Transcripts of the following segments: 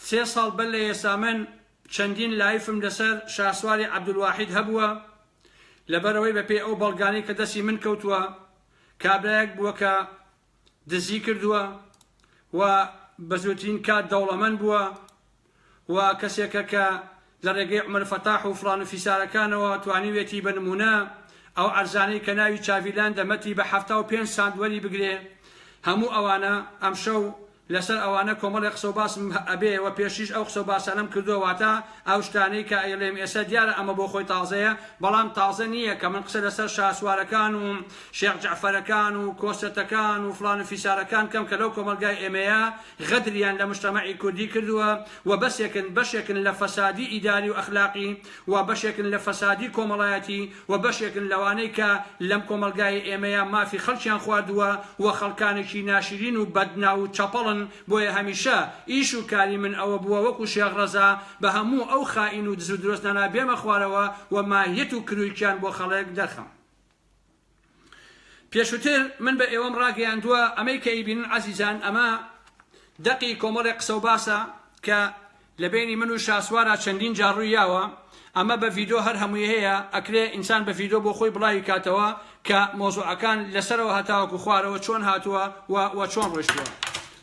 سێ ساڵ بەر لە ئێستا من چەندین لایفم لەسەر شاسواری عەبدولواحید هەبووە، لەبەرئەوەی بەپێی ئەو بەڵگانەی کە دەستی من کەوتووە کابرایەک بووە کە دزی کردووە و بەزووترین کات دەوڵەمەند بووە و کەسێکە کە لە ڕێگەی عومەر فەتاح و فڵان و فیسارەکانەوە توانیوێتی بە نموونە ئەو عەرزانەی کە ناوی چاڤیلاند دە مەتی بە حەفتا و پێنج سانت وەری بگرێ هەموو ئەوانە ئەمشەو لە سەر ئەوانە کۆمەڵێ قسە و باسم ئەبێ وە پێشتریش ئەو قسە و باسانەم کردووە واتا ئەو شتانەی کە ئەیڵێم ئێسە دیارە ئەمە بۆ خۆی تازەیە بەڵام تازە نییە کە من قسە لە سەر شاسوارەکان و شێخ جەعفەرەکان و کۆسرەتەکان و فڵان و فیسارەکان کەم کە لەو کۆمەڵگای ئێمەیە غەدریان لە مشتەمەعی کوردی کردووە و بەسێکن بەشێکن لە فەسادی ئیداری و ئەخلاقی و بەشێکن لە فەسادی کۆمەڵایەتی و بەشێکن لەوانەی کە لەم کۆمەڵگای ئێمەیا مافی خەڵکیان خواردووە و خەڵکانێکی ناشرین و بەد ناو و چەپەڵن بۆیە هەمیشە ئیش و کاری من ئەوە بووە وەکو شێخ ڕەزا بە هەموو ئەو خائین و دزو درۆزنانە بێمە خوارەوە و ماهیەت و کرویکیان بۆ خەڵک دەرخەم. پێشوتر من بە ئێوەم ڕاگەیاندووە ئەمەی کە ئیبینن عەزیزان ئەمە دەقی کۆمەڵێ قسە و باسە کە لە بینی من و شاسوارە چەندین جاڕووی یاوە ئەمە بە ڤیدۆ هەر هەمووی هەیە ئەکرێ ئینسان بە ڤیدۆ بۆ خۆی بڵاوی کاتەوە کە مۆزوعەکان لەسەرەوە هەتاوەکو خوارەوە چۆن هاتووە و چۆن ڕۆشتووە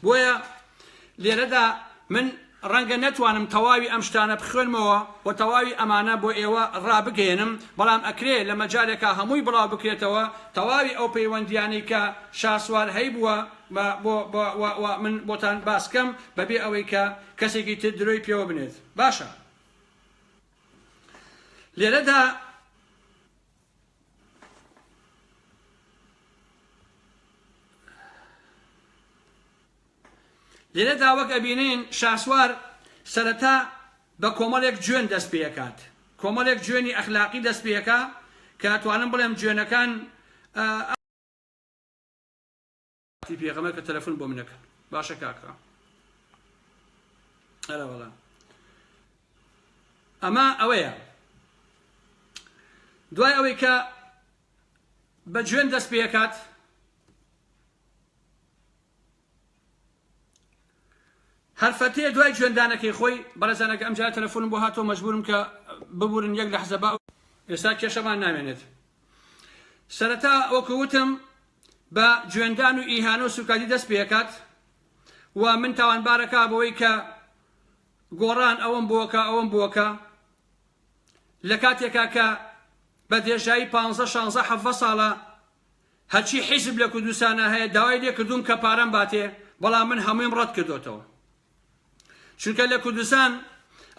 بۆیە لێرەدا من ڕەنگە نەتوانم تەواوی ئەم شتانە بخوێنمەوە و تەواوی ئەمانە بۆ ئێوە ڕابگەیەنم، بەڵام ئەکرێ لە مەجالێکا هەمووی بڵاو بکرێتەوە، تەواوی ئەو پەیوەندییانەی کە شاسوار هەیبووە و من بۆتان باس کەم بە بێ ئەوەی کە کەسێکی تر درۆی پێوە بنێت. باشە. لێرەدا. لێرەدا وەک ئەبینین شاسوار سەرەتا بە کۆمەڵێک جوێن دەست پێکات کۆمەڵێک جوێنی ئەخلاقی دەست پێکا کە ئەتوانم بڵێم جوێنەکان تی پێغەمە کە تەلەفۆن بۆ منەکەن باشە کاکڕ ئەرەوەڵا ئەمە ئەوەیە دوای ئەوەی کە بە جوێن دەست پێکات هەر فەتێ دوای جوێندانەکەی خۆی بەڕێزان ئەگە ئەمجارە تەلەفۆنم بۆ هاتەوە مەجبورم کە ببورن یەک لەحزە با ئێستا کێشەمان نامێنێت سەرەتا وەکو وتم بە جوێندان و ئیهانە و سوکادی دەست پێکات و من تاوانبارەکە بەوەی کە گۆڕان ئەوم بۆکە ئەوم بۆکە لە کاتێکا کە بە دێژایی پ شانزە حەڤە ساڵە هەرچی حیزب لە کوردستانا هەیە داوای لێ کردووم کە پارەم باتێ بەڵام من هەموویم ڕەت کردۆتەوە چونکە لە کوردستان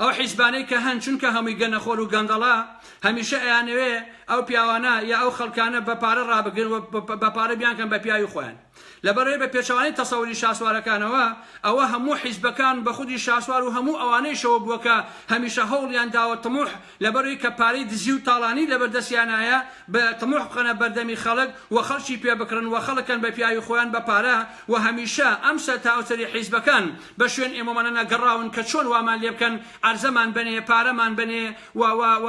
ئەو حیزبانەی کە هەن چونکە هەمووی گەنەخۆر و گەندەڵە هەمیشە ئەیانەوێ ئەو پیاوانە یا ئەو خەڵکانە بە پارە ڕابگرن و بە پارە بیانکەن بە پیاوی خۆیان لە بەرەی بە پێچەوانەی تەسەوری شاسوارەکانەوە، ئەوە هەموو حیزبەکان بە خودی شاسوار و هەموو ئەوانەیشەوە بووە کە هەمیشە هەوڵیان داوە طموح لە بەرەی کە پارەی دزی و تاڵانی لە بەر دەستیانایە ب طموح بخەنە بەردەمی خەڵک و خەڵکی پێ بکڕن و خەڵک کەن بە پیاوی خۆیان بە پارە و هەمیشە ئەم سەر تا ئەو سەری حیزبەکان بە شوێن ئێمەوانەنا گەڕاون کە چۆن وامان لێ بکەن عەرزەمان بەنێ پارەمان بەنێ و و و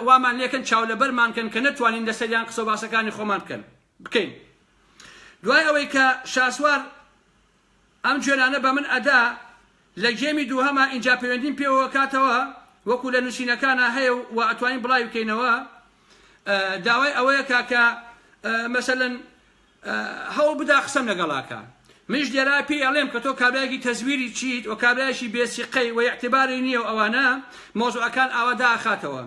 وامان لێ کەن چاو لە بەرمان کەن کە نەتوانین لە سەریان قسە و باسەکانی خۆمان بکەن. بکەین دوای ئەوەی کە شاسوار ئەم جوێنانە بە من ئەدا لە گێمی دووهەما ئینجا پەیوەندیم پێوەوە کاتەوە وەکو لە نوسینەکانا هەیە و وا ئەتوانین بڵاوی بکەینەوە داوای ئەوەیە کا کە مەسەلەن هەوڵ بدا قسەم لەگەڵا کا منیش لێرە پێی ئەڵێم کە تۆ کابرایەکی تەزویری چیت و کابرایەکی بێ سیقەی و ئیعتباری نیە و ئەوانە مەوزوعەکان ئاوا دائەخاتەوە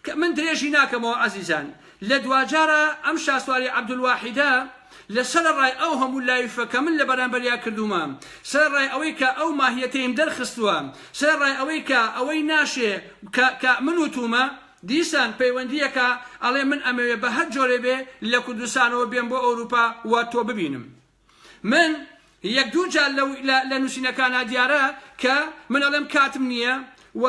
کە من درێژی ناکەمەوە ئازیزان لە دواجارە ئەم شاسواری عەبدولواحیدە لە سەرەڕای ئەو هەموو لایفە کە من لە بەرامبەریا کردوومە سەرەڕای ئەوەی کە ئەو ماهیەتەیم دەرخستووە سەرەڕای ئەوەی کە ئەوەی ناشێ کە کە من وتوومە دیسان پەیوەندیەکە ئەڵێ من ئەمەوێ بە هەر جۆرێ بێ لە کوردستانەوە بێم بۆ ئەوروپا و تۆ ببینم. من یەک دوو جار لە لە نووسینەکانا دیارە کە من ئەڵێم کاتم نییە و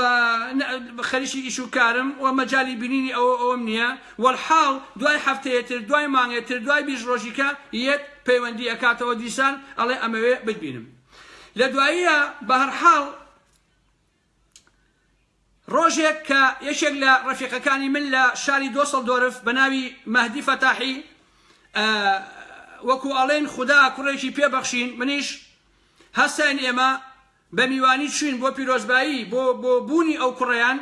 خەریکی ئیش و کارم و مەجای بینینی ئەوە ئەوم نییە وەلحاڵ دوای هەفتەیەتر دوای مانگێتر دوای بیست ڕۆژیکە یەت پەیوەندی ئەکاتەوە دیسان ئەڵێ ئەمەوێ بتبینم لە دواییە بەهەرحاڵ ڕۆژێک کە یەکێک لە ڕەفیقەکانی من لە شاری دۆسڵدۆرف بە ناوی مەهدی فەتاحی وەکو ئەڵێن خودا کوڕێکی پێبەخشین منیش هەستاین ئێمە بە میوانی چوین بۆ پیرۆزبایی بۆ بۆ بوونی ئەو کوڕیان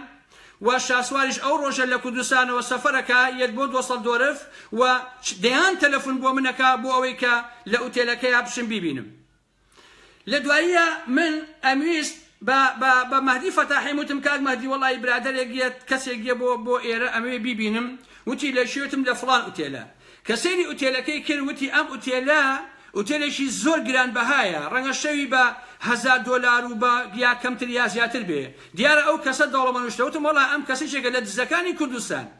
و شاسواریش ئەو ڕۆژە لە کوردستانەوە سەفەرەکە یەت بۆ دۆسەڵ دۆرف و دەیان تەلەفون بۆ منەکە بۆ ئەوەی کە لە ئوتێلەکەیا بچم بیبینم لە دواییە من ئەمویست بە بە بە مەهدی فەتاحیم وتم کاک مەهدی وەڵایی برادەرێک یە کەسێک یە بۆ بۆ ئێرە ئەمەوێ بیبینم وتی لە کوێ وتم لە فڵان ئوتێلە کە سەیری ئوتێلەکەی کرد وتی ئەم ئوتێلە ئوتێلێکی زۆر گرانبەهایە ڕەنگە شەوی بە هەزار دۆلار و بە یا کەمتر یا زیاتر بێ دیارە ئەو کەسە دەوڵەمەنوشتە وتم وەڵا ئەم کەسیچێکە لە دزەکانی کوردستان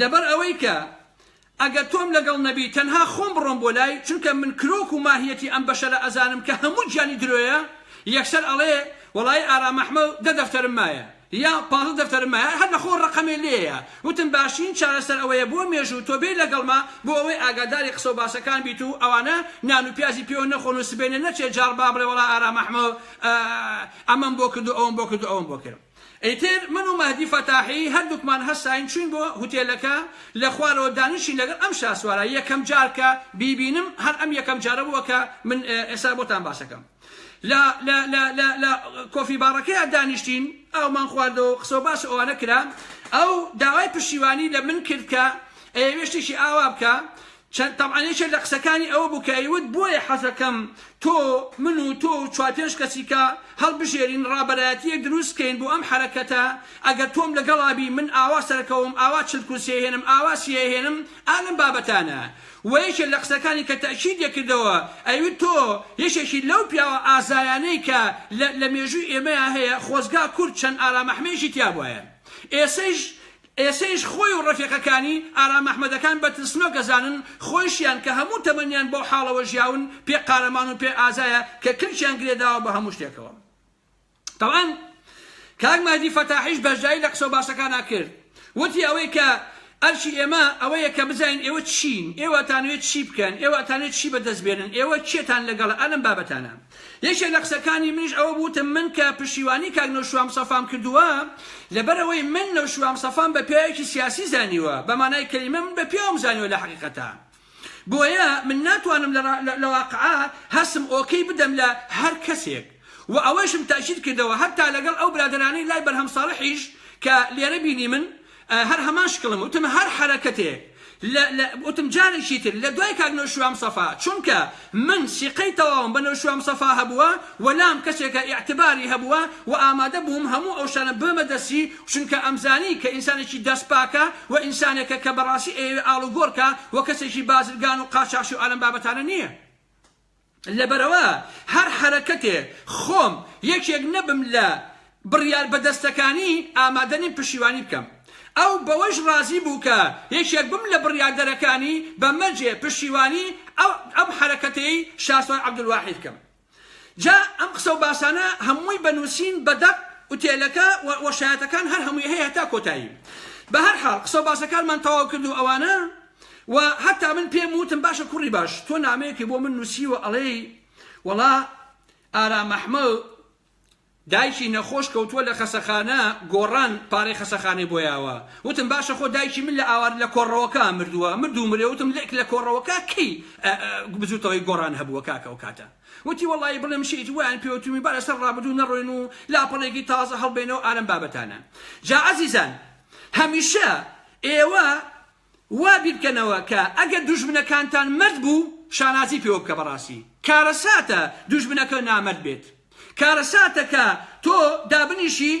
لەبەر ئەوەی کە ئەگەر تۆم لەگەڵ نەبی تەنها خۆم بڕۆم بۆ لای چونکە من کرۆک و ماهیەتی ئەم بەشەرە ئەزانم کە هەموو گیانی درۆیە یەکسەر ئەڵێ وەڵایی ئارام ئەحمە و دە دەفتەرم مایە یا پازدە دەفتەرم مایە هەر لە خۆ ڕقمێ لێیە وتم باشترین چارەسەر ئەوەیە بۆ مێژوو تۆ بێی لەگەڵما بۆ ئەوەی ئاگاداری قسە و باسەکان بیت و ئەوانە نان و پیازی پێوە نەخۆن و سبەینێ نەچێ جاڕ با بڵێ وەڵا ئارام ئەحمە ئەمەم بۆ کرد و ئەوەم بۆ کرد و ئەوەم بۆ کرد. ئیتر من و مەهدی فەتاحی هەردووکمان هەستاین چووین بۆ هوتێلەکە، لە خوارەوە دانیشین لەگەڵ ئەم شاسوارە، یەکەم جار کە بیبینم هەر ئەم یەکەم جارە بووە کە من ئێستا بۆتان باسەکەم لە لە لە لە لە کۆفی باڕەکەیا دانیشتین ئاومان خواردەوە قسەو باس ئەوانە کرا ئەو داوای پشتیوانی لە من کرد کە ئەیەوێ شتێکی ئاوا بکا چەند تەبعەن یەکێک لە قسەکانی ئەوە بوو کە ئەیوت بۆیە حەزەکەم تۆ من و تۆ و چوار پێنج کەسیکە هەڵبژێرین ڕابەرایەتییەک دروست بکەین بۆ ئەم حەرەکەتە ئەگەر تۆم لەگەڵا بی من ئاوا سەرەکەوم ئاوا چل کورسی ئەهێنم ئاوا سی ئەهێنم ئا لەم بابەتانە وە یەکێک لە قسەکانی کە تەئکید دەکردەوە ئەیوت تۆ یەکێکی لەو پیاوە ئازایانەی کە لە لە مێژووی ئێمەیا هەیە خۆزگا کورد چەند ئارامەحمەیەکی تیابوایە ئێسەیش ئێسەیش خۆی و ڕەفیقەکانی، ئارام ئەحمەدەکان، بە ترسنۆک ئەزانن، خۆیشیان کە هەموو تەمەنیان بەو حاڵەوە ژیاون، پێ قارەمان و پێ ئازایە کە کلکیان گرێداوە بە هەموو شتێکەوە. تەبعەن کاک مەهدی فەتاحیش بەشداری لە قسەو باسەکانا کرد. وتی ئەوەی کە ئەرکی ئێمە ئەوەیە کە بزانین ئێوە چین؟ ئێوە ئەتانەوێ چی بکەن؟ ئێوە ئەتانەوێ چی بەدەست بێنن؟ ئێوە کێتان لەگەڵە ئەلەم بابەتانە؟ یەکێک لە قسەکانی منیش ئەوە بوو وتم من کە پشتیوانی کاک نەوشیروان مستەفام کردووە لەبەر ئەوەی من نەوشیروان مستەفام بە پیاوێکی سیاسی زانیوە بە مانای کەلیمە من بە پیاوم زانیوە لە حەقیقەتا بۆیە من ناتوانم لە واقعا هەستم ئۆکەی بدەم لە هەر کەسێک و ئەوەیشم تەئکید کردەوە هەتا لەگەڵ ئەو برادەرانەی لای بەرهەم ساڵحیش کە لێرە بینیمن هەر هەمان شکڵم وتم هەر حەرەکەتێک لە لە وتم جارێکی تر لە دوای کاک نەوشیروان مستەفا چونکە من سیقەی تەواوم بە نەوشیروان مستەفا هەبووە و لام کەسێکە ئیعتباری هەبووە و ئامادە بووم هەموو ئەو شتانە ببەمە دەستی چونکە ئەمزانی کە ئینسانێکی دەست پاکە و ئینسانێکە کە بەڕاستی ئەیەوێ ئاڵوگۆڕ کا و کەسێکی بازرگان و قاچاخچی و ئەلەم بابەتانە نییە. لەبەرئەوە هەر حەرەکەتێ خۆم یەکێک نەبم لە بڕیار بەدەستەکانی ئامادە نیم پشیوانی بکەم. ئەو بەوەیش ڕازی بوو کە یەکێک بم لە بڕیاردەرەکانی بە مەرجێ پشیوانی ئەم حەرەکەتەی شاسوار عەبدولواحید بکەم. جا ئەم قسە و باسانە هەمووی بە نووسین بە دەق ئوتێلەکە و شایەتەکان هەر هەمووی هەیە هەتا کۆتایی. بە هەر حاڵ قسە و باسەکانمان تەواو کرد و ئەوانە. وە هەتا من پێم وتم باشە کوڕی باش تۆ نامەیەکی بۆ من نووسیوە ئەڵێی وەڵا ئارام ئەحمەد دایکی نەخۆش کەوتووە لە خەسەخانە گۆڕان پارەی خەسەخانەی بۆ یاوە وتم باشە خۆ دایکی من لە ئاوار لە کۆڕەوەکە مردووە مردوو مرێ وتم لێک لە کۆڕەوەکە کەی بزوتەوەی گۆڕان هەبووە کاکە و کاتە وتی وەڵی بڵێم شیت ویان پێوتمی بارە سەر ڕابدوو نەڕۆین و لاپەڕێکی تازە هەڵبێنەوە ئارم بابەتانە جا عزیزان هەمیشە ئێوە وا بیرکەنەوە کە ئەگەر دوژمنەکانتان مەرد بوو شانازی پێوە بکە بەڕاستی کارەساتە دوژمنەکە نامەرد بێت کارەساتە کە تۆ دابنیشی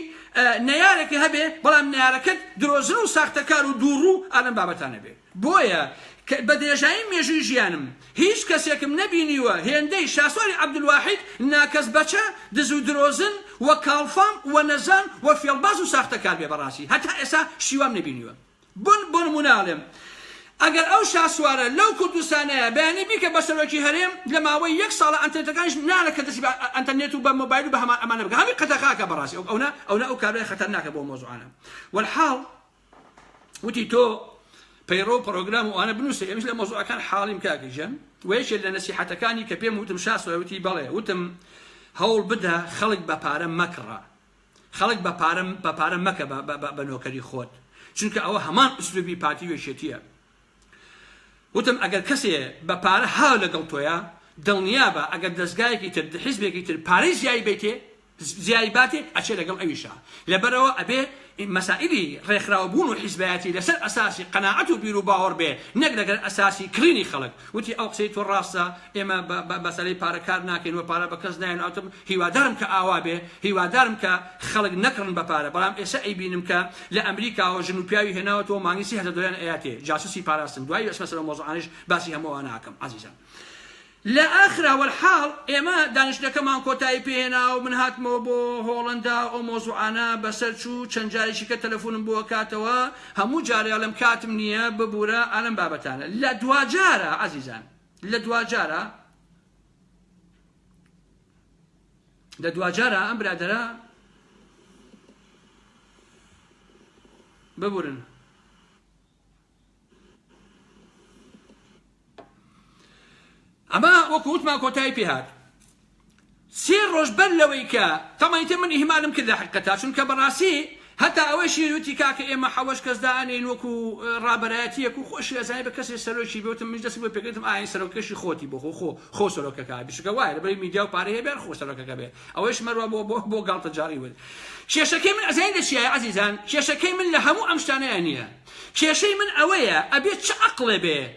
نەیارێکە هەبێ بەڵام نەیارەکەت درۆزن و ساختەکار و دووڕوو ئالەم بابەتانە بێ بۆیە بە درێژایی مێژووی ژیانم هیچ کەسێکم نەبینیوە هێندەی شاسواری عەبدولواحید ناکەس بەچە دز و درۆزن و کاڵفام و نەزان و فێڵباز و ساختەکار بێ بەڕاستی هەتا ئێسا شیوام نەبینیوە بن بۆ نمونە ئەڵێم ئەگەر ئەو شاسوارە لەو کوردستانەیە بەیانی بیکە بە سەرۆکی هەرێم لە ماوەی یەک ساڵە ئەنتەرنێتەکانیش نالە کە دەسی بە ئەنتەرنێت و بە مۆبایل و بە هەمان ئەمانە بکە هەمی قەدەخاکە بەڕاستی ئەو ئەونە ئەونە ئەو کابرای خەتەرناکە بۆ مۆزوعانە والحاڵ وتی تۆ پەیڕەو پرۆگرام و ئەوانە بنووسە ئێمەش لە مۆزوعەکان حاڵیم کاکە گیان و یەکێک لە نەسیحەتەکانی کە پێم وتم شاسوار وتی بەڵێ وتم هەوڵ بدە خەڵک بە پارە مەکڕە خەڵک بە پارە بە پارە مەکە بە نۆکەری خۆت چونکە ئەوە هەمان ئسلوبی پارتی وێشێتیە وتم ئەگەر کەسێ بە پارە هاو لەگەڵ تۆیە دڵنیابە ئەگەر دەستگایەکی تر حزبێکی تر پارەی زیایی بیتێ زیای باتێ ئەچێ لەگەڵ ئەویشە لەبەرەوە ئەبێ مەسائلی ڕێکخراوەبوون و حیزبایەتی لەسەر ئەساسی قەناعەت و بیر و باوەڕ بێ نەک لەگەر ئەساسی کڕینی خەڵک وتی ئەو قسەی تۆ ڕاستە ئێمە بەسەری پارەکار ناکەین و پارە بە کەس نایەن ئەوتم هیوادارم کە ئاوا بێ هیوادارم کە خەڵک نەکڕن بە پارە بەڵام ئێسە ئەیبینم کە لە ئەمریکاوە ژن و پیاوی هێناوەتەوە مانگی سی هەزار دۆلاریان ئەیاتێ جاسوسی پاراستن دوایی ئەچمە سەر ئەو مەوزوعانەش باسی هەموو ئەوانە ئەکەم ئازیزان لە ئاخرا وەلحاڵ ئێمە دانیشتنەکەمان کۆتایی پێ هێنا و من هاتمەوە بۆ هۆڵەندا ئەو مەوزوعانە بەسەر چوو چەند جارێکی کە تەلەفونم بۆ ئەکاتەوە هەموو جارێ ئەڵێم کاتم نییە ببورە ئەلەم بابەتانە لە دواجارە ئازیزان لە دواجارە لە دواجارا ئەم برادەرە ببورن ئەمە وەکو وتمان کۆتایی پێهات سێ ڕۆژ بەر لەوەی کە تەمەیتە من ئیهمالم کرد لە حقەتا چونکە بەڕاستی هەتا ئەوەیشی وتی کاکە ئێمە حەوەش کەس دائەنێین وەکو ڕابەرایەتیەک و خۆشی ئەزانێ بە کەسێ سەرۆکی بێ وتم منیش دەستی بۆ پێکردم ئا ئەی سەرۆکەکەشی خۆتی بۆ خۆ خۆ خۆ سەرۆکەکە بێ چونکە وایە لەبەر میدیا و پارەی هەبێ هەر خۆ سەرۆکەکە بێ ئەوەیش مەروا بۆ بۆ بۆ گاڵتەجاڕی وت کێشەکەی من ئەزانین لە چیایە عەزیزان کێشەکەی من لە هەموو ئەم شتانەیە نییە کێشەی من ئەوەیە ئەبێ چ عەقڵێ بێ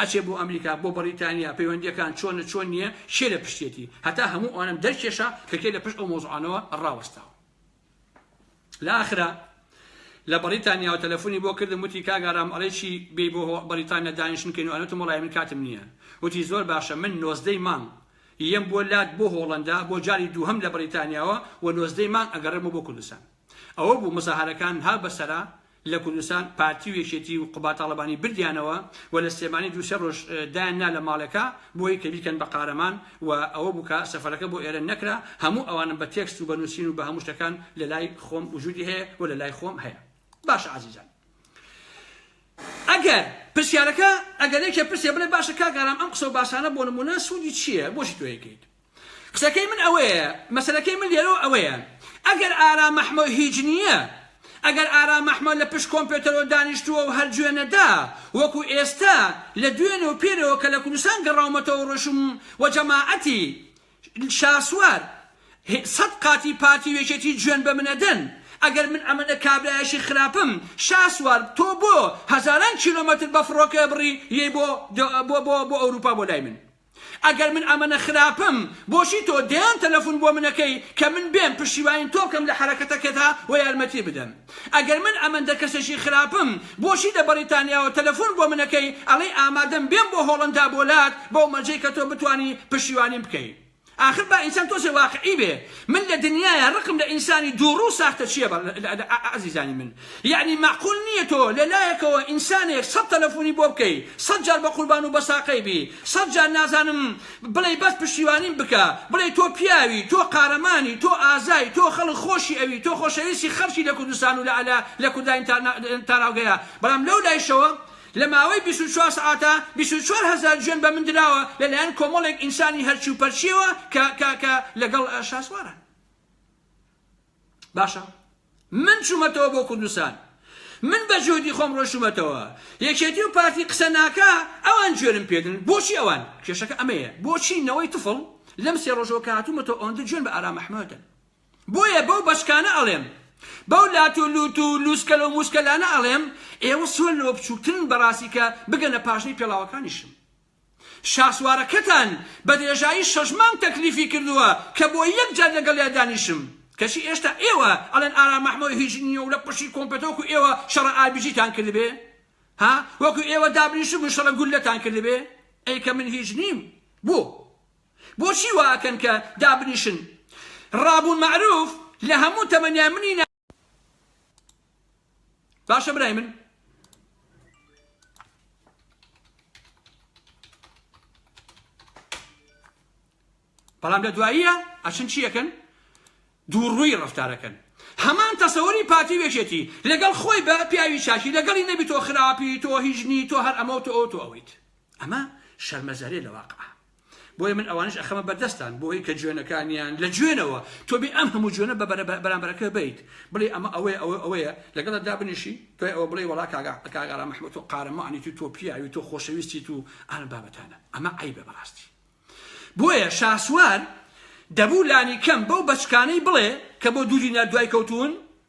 ئەچێ بۆ ئەمریکا بۆ بەڕیتانیا پەیوەندیەکان چۆنە چۆن نیە کێ لە پشتیەتی هەتا هەموو ئەوانەم دەرکێشا کە کێ لە پشت ئەو مۆزوعانەوە ڕاوەستاوە لە ئاخرا لە بەڕیتانیا و تەلەفۆنی بۆ کردم وتی کاک ئارام ئەڵێ چی بێی بۆ بەڕیتانیا دانیشتن کەین و ئەنوتم وەڵای من کاتم نییە وتی زۆر باشە من نۆزدەی مانگ یەم بۆ لات بۆ هۆڵەندا بۆ جاری دووهەم لە بەڕیتانیاوە و نۆزدەی مانگ ئەگەڕێمەوە بۆ کوردستان ئەوە بوو مزاهەرەکان ها بەسەرا لە کوردستان پارتی و یەکێتی و قوباد تاڵەبانی بردیانەوە و لە سلێمانی دوو سێ ڕۆژ دایان نا لە ماڵێکا بۆی کە بیکەن بە قارەمان و ئەوە بوو کە سەفەرەکە بۆ ئێرە نەکرا هەموو ئەوانم بە تێکست و بە نووسین و بە هەموو شتەکان لە لای خۆم وجودی هەیە و لە لای خۆم هەیە باشە عەزیزان ئەگەر پرسیارەکە ئەگەر یەکێ پرسێ بڵێ باشە کاک ئارام ئەم قسە و باسانە بۆ نموونە سوودی چییە بۆچی تۆ یەکەیت قسەکەی من ئەوەیە مەسەلەکەی من لێرەوە ئەوەیە ئەگەر ئارام مەحمۆ هیچ نییە ئەگەر ئارام مەحمۆ لە پشت کۆمپێتەرەوە دانیشتووە و هەر جوێن نەدا وەکو ئێستا لە دوێنێ و پێرەوە کە لە کوردستان گەڕاومەتەوە ڕۆیشتم و جەماعەتی شاسوار سەد قاتی پارتی و یەکێتی جوێن بە من ئەدەن ئەگەر من ئەمەنە کابرایەشی خراپم شاسوار تۆ بۆ هەزاران کیلۆمەتر بە فڕۆکە بڕی یەی بۆ بۆ بۆ بۆ ئەوروپا بۆ لای من ئەگەر من ئەمەنە خراپم بۆچی تۆ دەیان تەلەفون بۆ من ئەکەی کە من بێم پشتیوانی تۆ بکەم لە حەرەکەتەکەتا و یارمەتی بدەم ئەگەر من ئەمەندە کەسێکی خراپم بۆچی لە بەڕیتانیاوە تەلەفون بۆ من ئەکەی ئەڵێی ئامادەم بێم بۆ هۆڵەندا بۆ لات بەو مەرجەی کە تۆ بتوانی پشتیوانیم بکەی ئاخر با ئینسان تۆزێ واقعی بێ من لە دنیایە ڕقم لە ئینسانی دووڕوو ساختەچیە ئەزیزانی من یەعنی مەعقول نیە تۆ لە لایەکەوە ئینسانێک سەد تەلەفونی بۆ بکەی سەد جار بە قوربان و بەساقەی بی سەد جار نازانم بڵێی بەس پشتیوانیم بکە بڵێی تۆ پیاوی تۆ قارەمانی تۆ ئازای تۆ خەڵک خۆشی ئەوی تۆ خۆشەویستی خەڵکی لە کوردستان و لە لە لە کورداین تاراوگەیە بەڵام لەو لایشەوە لە ماوەی بیست و چوار سەعاتە بیست و چوار هەزار جوێن بە من دراوە لە لایەن کۆمەڵێک ئینسانی هەرچی و پەرچیەوە کە کە کە لە گەڵ شاسوارە باشە من چوومەتەوە بۆ کوردستان من بە جۆدی خۆم ڕۆشتومەتەوە یەکێتی و پارتی قسە ناکە ئەوان جوێنم پێدن بۆچی ئەوان کێشەکە ئەمەیە بۆچی نەوەی تفڵ لەم سێ ڕۆژەوە کاتومەتەوە ئەوەندە جوێن بە ئارام محمەدن بۆیە بەو بەشکانە ئەڵێم بەو لات و لوت و لوسکەلە و موسکەلانە ئەڵێم ئێوە سۆن لەوە بچووکترن بەڕاستی کە بگەنە پاشنەی پێڵاوەکانیشم شاسوارەکەتان بە درێژایی شەش مانگ تەکلیفی کردووە کە بۆ یەک جار لەگەڵیا دانیشم کەچی ئێشتا ئێوە ئەڵێن ئارام ئەحمەو هیچ نییە و لە قوشی کۆمپێت وەکو ئێوە شەڕە ئاربیجیتان کردبێ ها وەکو ئێوە دابنیشتبوون شەڕە گوللەتان کردبێ ئەی کە من هیچ نیم بۆ بۆچی وا ئەکەن کە دابنیشن ڕابوون مەعروف لە هەموو تەمەنیان منی باشە برای من بەڵام لە دواییە ئەچن چیەکەن دووڕووی ڕفتارەکەن هەمان تەسەوەری پارتی وێژێتی لەگەڵ خۆی بە پیاوی چاکی لەگەڵی نەبی تۆ خراپی تۆ هیژنی تۆ هەر ئەمە و تۆ ئەو تۆ ئەویت ئەمە شەرمەزارێ لە واقع بۆیە من ئەوانش ئەخەمە بەردەستان بۆی کە جوێنەکانیان لە جوێنەوە تۆ بێ ئەم هەموو جوێنە بە بەرامبەرەکە بیت بڵێ ئەمە ئەوەیە ئەوە ئەوەیە لەگەڵ دابنیشی دوای ئەوە بڵێ وڵا کاگا کاگارا مححمود تۆ قارەمانی تو تۆ پیاوی تۆ خۆشەویستی تو ئەم بابەتانە ئەمە عیبە بەڕاستی بۆیە شاسوار دەبوو لانی کەم بەو بەچکانەی بڵێ کە بۆ دوو دینار دوای کەوتون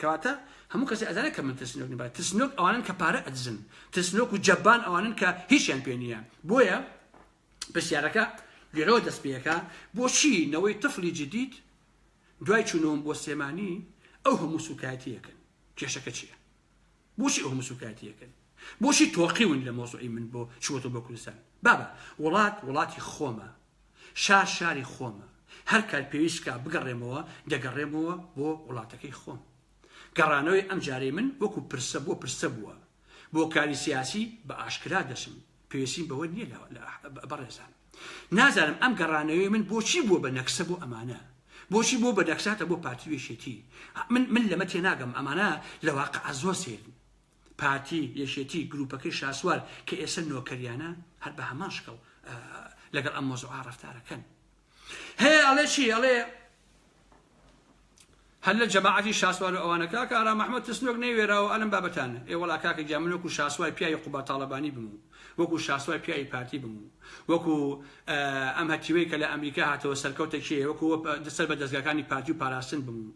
کەواتە هەموو کەسێ ئەزانێ کە من ترسنۆک نیم ترسنۆک ئەوانن کە پارە ئەدزن ترسنۆک و جەبان ئەوانن کە هیچیان پێ نییە بۆیە پرسیارەکە لێرەوە دەست پێەکە بۆچی نەوەی تفلی جدید دوای چوونەوەم بۆ سێمانی ئەو هەموو سوکایەتیەکەن کێشەکە چییە بۆچی ئەو هەموو سوکایەتیەکەن بۆچی تۆقیون لە مۆزوعی من بۆ چوەتە بۆ کوردستان بابە وڵات وڵاتی خۆمە شار شاری خۆمە، هەر کات پێویست بکا بگەڕێمەوە دەگەڕێمەوە بۆ وڵاتەکەی خۆم. گەڕانەوەی ئەمجارەی من وەکو پرسە بۆ پرسە بووە، بۆ کاری سیاسی بە ئاشکرا دەچم، پێویستیم بەوە نیە بەڕێزان. نازانم ئەم گەڕانەوەی من بۆچی بووە بە نەکسە بۆ ئەمانە؟ بۆچی بووە بە نەکساتە بۆ پارتی و یەکێتی؟ من من لەمە تێناگەم، ئەمانە لە واقع زۆر سەیرن. پارتی، یەکێتی، گروپەکەی شاسوار کە ئێسە نۆکەریانە هەر بە هەمان شکڵ لەگەڵ ئەم مۆزوعا ڕەفتارەکەن. هەیە ئەڵێ چی ئەڵێ هەر لە جەماعەتی شاسوار و ئەوانە کاکە ئارام محمد ترسنۆک نەیوێراوە ئەلم بابەتانە ئێ وەڵا کاکە گیان من وەکو شاسوای پیاوی قوباد تاڵەبانی بم و وەکو شاسوای پیاوی پارتی بم و وەکو ئەم هەتیوەی کە لە ئەمریکا هاتەوە سەرکەوتە کێیە وەکو سەر بە دەزگاکانی پارتی و پاراستن بم و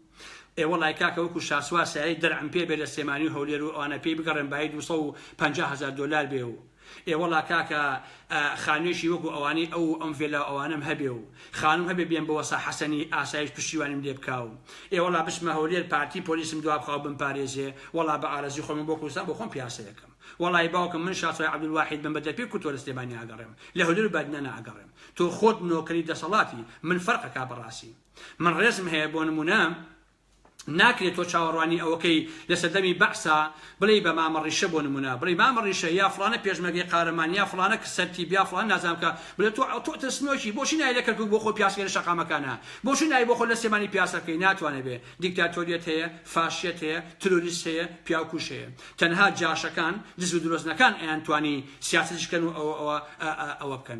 ئێ وەڵای کاکە وەکو شاسوار سایەی دەرعم پێ بێ لە سلێمانی و هەولێر و ئەوانە پێی بگەڕێم بایی دوو سەد و پەنجا هەزار دۆلار بێ و ئێ وەڵا کاکە خانوێکی وەکو ئەوانەی ئەو و ئەم ڤێلا و ئەوانەم هەبێ و خانوم هەبێ بێم بۆ وەسا حەسەنی ئاسایش پشتیوانیم لێ بکا و ئێ وەڵا بچمە هەولێر پارتی پۆلیسم دوا بخا و بمپارێزێ وەڵا بە ئارەزوی خۆم بۆ کوردستان بۆ خۆم پیاسە ئەکەم وەڵای باوکم من شاسوای عەبدولواحید بم بە دەرپێ کورد تۆ لە سلێمانی ئاگەڕێم لە هەولێر و بادینان ئاگەڕێم تۆ خۆت نۆکەری دەسەڵاتی من فەرق ئەکا بەڕاسی من ڕێزم هەیە بۆ نمونە ناکرێت تۆ چاوەڕوانی ئەوەکەی لە سەردەمی بەعسا بڵێی بە مامە ڕیشە بۆ نمونە بڵێی مامە ڕیشە یا فڵانە پێشمەرگەی قارەمان یا فڵانە کە سەرتیب یا فڵان نازانم کە بڵێ تۆ ئەو تۆ ترسنۆکی بۆچی نای لە کەرکوک بۆ خۆ پیاسەکەی لە شەقامەکانە بۆچی نای بۆ خۆ لە سێمانی پیاسە بکەی ناتوانێ بێ دیکتاتۆریەت هەیە فاشیەت هەیە تروریست هەیە پیاوکوش هەیە تەنها جاشەکان دز و درۆزنەکان ئەیانتوانی سیاسەتیش کەن و ئەوە ئەوە ئەوە بکەن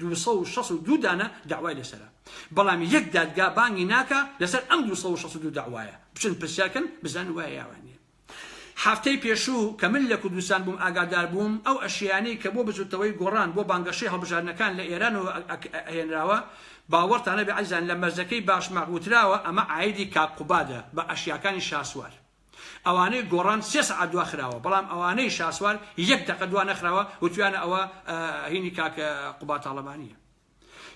دوو سەد و شەست و دوو دانە دەعوای لەسەرە بەڵام یەک دادگا بانگی ناکا لەسەر ئەم دوو سەد و شەست و دوو دەعوایە بچن پرسیار کەن بزانن وایە یاوان نیە هەفتەی پێشوو کە من لە کوردستان بووم ئاگادار بووم ئەو ئەشیانەی کە بۆ بزوتنەوەی گۆڕان بۆ بانگەشەی هەڵبژاردنەکان لە ئێرانەوە ئەهێنراوە باوەڕتان نەبێ ئەزیزان لە مەرزەکەی باشماخ وتراوە ئەمە عایدی کاک قوبادە بە ئەشیاکانی شاسوار ئەوانەی گۆڕان سێ سەعات دوا خراوە بەڵام ئەوانەی شاسوار یەک دەقە دوا نەخراوە وتویانە ئەوە هینی کاک قوباد تاڵەبانیە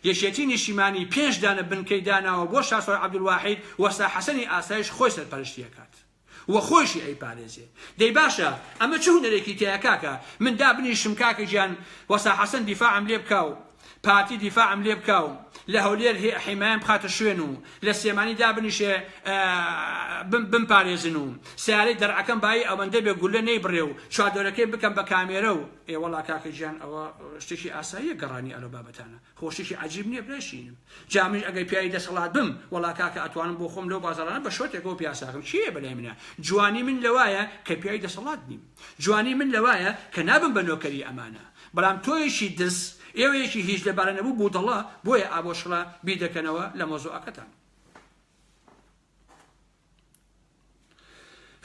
یەکێتی نیشیمانی پێنج دانە بنکەی داناوە بۆ شاسوار عەبدولواحید وەستا حەسەنی ئاسایش خۆی سەرپەرشتی ئەکات و خۆشی ئەی پارێزێ دەی باشە ئەمە چ هونەرێکی تیایە کاکە من دابنیشم کاکە گیان وەستا حەسەن دیفاعم لێ بکا و پارتی دیفاعم لێ بکا و لە هەولێر حیمایم بخاتە شوێن و لە سێمانی دابنیشێ بمپارێزن و سیارەی دەرعەکەم بایی ئەوەندە بێ گولە نەی بڕێ و چادۆرەکەی بکەم بە کامێرە و ئێوەڵا کاکە گیان ئەوە شتێکی ئاساییە گەڕانی ئەلۆ بابەتانە خۆشتێکی عجیب نییە برایشینم جامیش ئەگەر پیاوی دەسەڵات بم وەڵا کاکە ئەتوانم بۆ خۆم لەو بازارانە بە شۆتێکەوە پیاساکەم چیە بەلای منە جوانی من لەوایە کە پیاوی دەسەڵات نیم جوانی من لەوایە کە نابم بە نۆکەری ئەمانە بەڵام تۆیەکی دز ئێوەیەکی هیچ لەبارە نەبوو بودەڵە بۆیە ئابۆشڕە بیر دەکەنەوە لە مەوزوعەکەتان.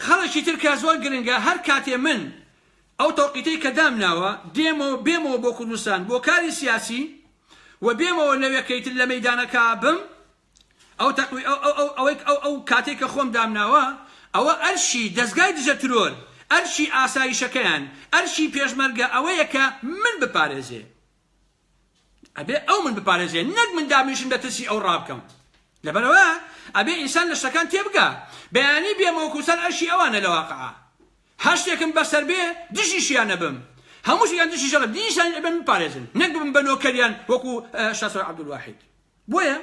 خەڵکی تر کە زۆر گرنگە هەر کاتێ من ئەو تەوقیتەی کە دامناوە دێمەوە بێمەوە بۆ کوردستان بۆ کاری سیاسی و بێمەوە لەوێ کەیتر لە مەیدانەکە بم ئەو تەقوی ئەو ئەو ئەو ئەوەی ئەو ئەو کاتەی کە خۆم دامناوە ئەوە ئەرشی دەزگای دژە ترۆر ئەرشی ئاسایشەکەیان ئەرشی پێشمەرگە ئەوەیە کە من بپارێزێ ئەبێ ئەو من بپارێزێ نەک من دابنیشم لە ترسی ئەو ڕابکەم لەبەرەوە ئەبێ ئینسان لە شتەکان تێبگا بەیانی بێ مەوکوسەر ئەرشی ئەوانە لە واقعا هەشتێکم بەسەر بێ دژیشیان نەبم هەمووش یان دژی ژەڵە دینیشان ئەبێن بپارێزن نەک بم بە نۆکەریان وەکو شاسۆر عەبدولواحید بۆیە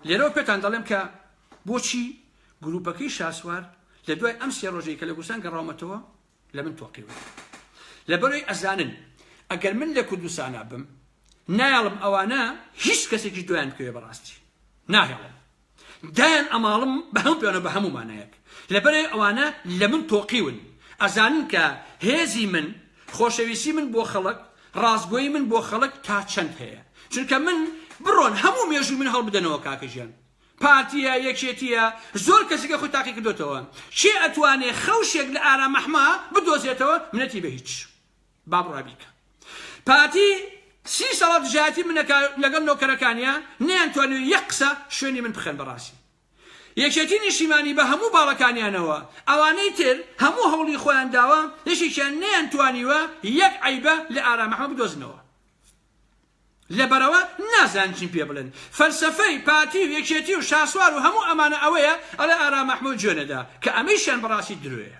لێرەوە پێتان دەڵێم کە بۆچی گروپەکەی شاسوار لە دوای ئەم سێ ڕۆژەی کە لە کوردستان گەڕاومەتەوە لە من تۆقیوە لەبەرەوەی ئەزانن ئەگەر من لە کوردستانە بم نایڵم ئەوانە هیچ کەسێکی دویان بکەوێ بەڕاستی ناهێڵم دایان ئەماڵم بە هەموو پێوانەوە بە هەموو مانایەک لەبەرئەوەی ئەوانە لە من تۆقیون ئەزانن کە هێزی من خۆشەویستی من بۆ خەڵک ڕاستگۆی من بۆ خەڵک تا چەند هەیە چونکە من بڕۆن هەموو مێژوو من هەڵبدەنەوە کاکە ژیان پارتیە یەکێتیە زۆر کەسیکە خۆی تاقی کردوتەوە چێ ئەتوانێ خەوشێک لە ئارامەحما بدۆزێتەوە منەتی بە هیچ با بڕای بیکە پارتی سی ساڵە دژایەتی من دەکا لەگەڵ نۆکەرەکانیا نەیانتوانیوە یەک قسە شوێنی من بخەن بەڕاستی یەکێتی نیشیمانی بە هەموو باڵەکانیانەوە ئەوانەی تر هەموو هەوڵی خۆیان داوە یەکێکیان نەیانتوانیوە یەک عەیبە لە ئارام ئەحمەد بدۆزنەوە لەبەرەوە نازان چیم پێ بڵێن فەلسەفەی پارتی و یەکێتی و شاسوار و هەموو ئەمانە ئەوەیە ئەڵێ ئارام ئەحمەد جوێنەدا کە ئەمەیشیان بەڕاستی درۆیە